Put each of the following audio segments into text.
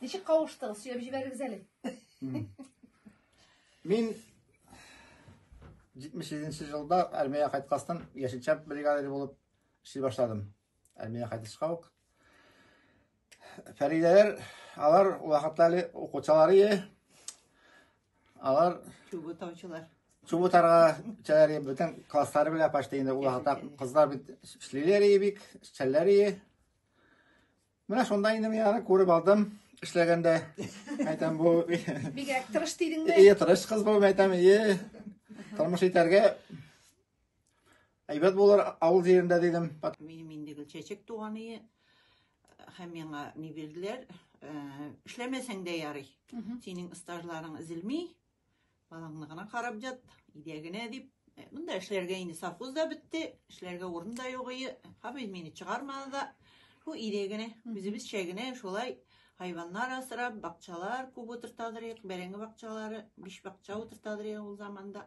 Ничек кавыштыгыз? Сөйләп җибәрегез әле. Мин 77 елда армияга кайткастан яшелчә бригадиры булып эшли башладым. Армия кайтышка ук. Фәридәләр, алар вакытта әле укучылары, алар чубы таучылар. Чубы тарга чәләр бөтен класслары белән почти инде ул вакытта кызлар бит эшлиләр бик, чәлләр Менә шунда инде мин аны күреп алдым, эшләгәндә. Әйтәм бу. Бигрәк тырыш дидең бе? Ие, тырыш кыз бу, әйтәм, ие. Тормыш итәргә әйбәт булыр авыл җирендә дидем. Минем инде гел чәчәк туганы һәм миңа ни бирделәр, э, эшләмәсәң дә ярый. Синең стажларың эзелми, Балаңны гына карап ят, идә генә дип. Э, Монда эшләргә инде совхоз да бетте, эшләргә урын да юк ие. Хабиз мине чыгармады да. Шул идә генә, үзебезчә генә шулай хайваннар асрап, бакчалар күп утыртадыр идек, бәрәңге бакчалары, биш бакча утыртадыр идек ул заманда.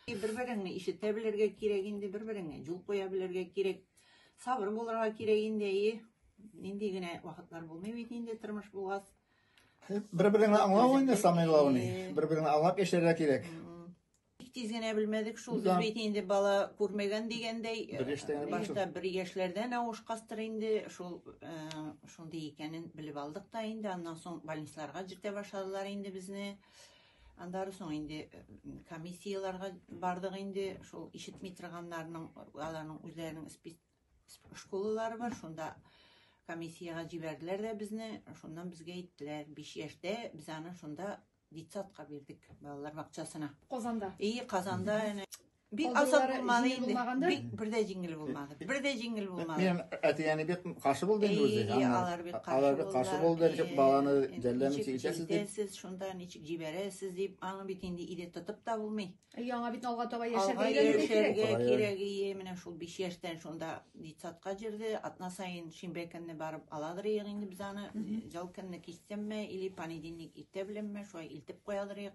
И, Бер береңне ишетә белергә кирәк инде, бер береңә юл куя белергә кирәк. Сабыр булырга кирәк инде, и. Нинди генә вакытлар булмый бит инде тормыш булгач. Бер-береңне аңлау инде самайлауны. Бер-береңне аңлап яшәргә кирәк. Бик тиз генә белмәдек шул. Без бит инде бала күрмәгән дигәндәй. Бер яшьтән баш. Бер яшьләрдән авышкастыр инде. Шул э, шундый икәнен белеп алдык та инде. Аннан соң больницаларга җитә башладылар инде безне. Аннары соң инде э, комиссияләргә бардык инде. Шул ишетми торганнарның, аларның үзләренең школалары бар, шунда комиссиягә җибәрделәр дә безне, шуннан безгә әйттеләр, биш яшьтә без аны шунда детсадка бирдек, балалар бакчасына. Казанда? И, Казанда, әнә. Бик азат булмады инде. Бик бер дә җиңел булмады. Бер дә җиңел булмады. Минем әти-әни бик каршы булды инде үзе. И, алар бик каршы булды. Алар бик каршы булды, ничек баланы жәлләмичә итәсез дип. Итәсез, шунда ничек җибәрәсез дип, аны бит инде иде тотып та булмый. Яңа бит алга таба яшәргә өйрәнергә кирәк. Яшәргә кирәк, ие, менә шул 5 яшьтән шунда детсадка җирде. Атна саен шимбә көнне барып аладыр ек инде без аны. Җал көнне кичтәнме или понедельник иртә беләнме, шулай илтеп куядыр ек.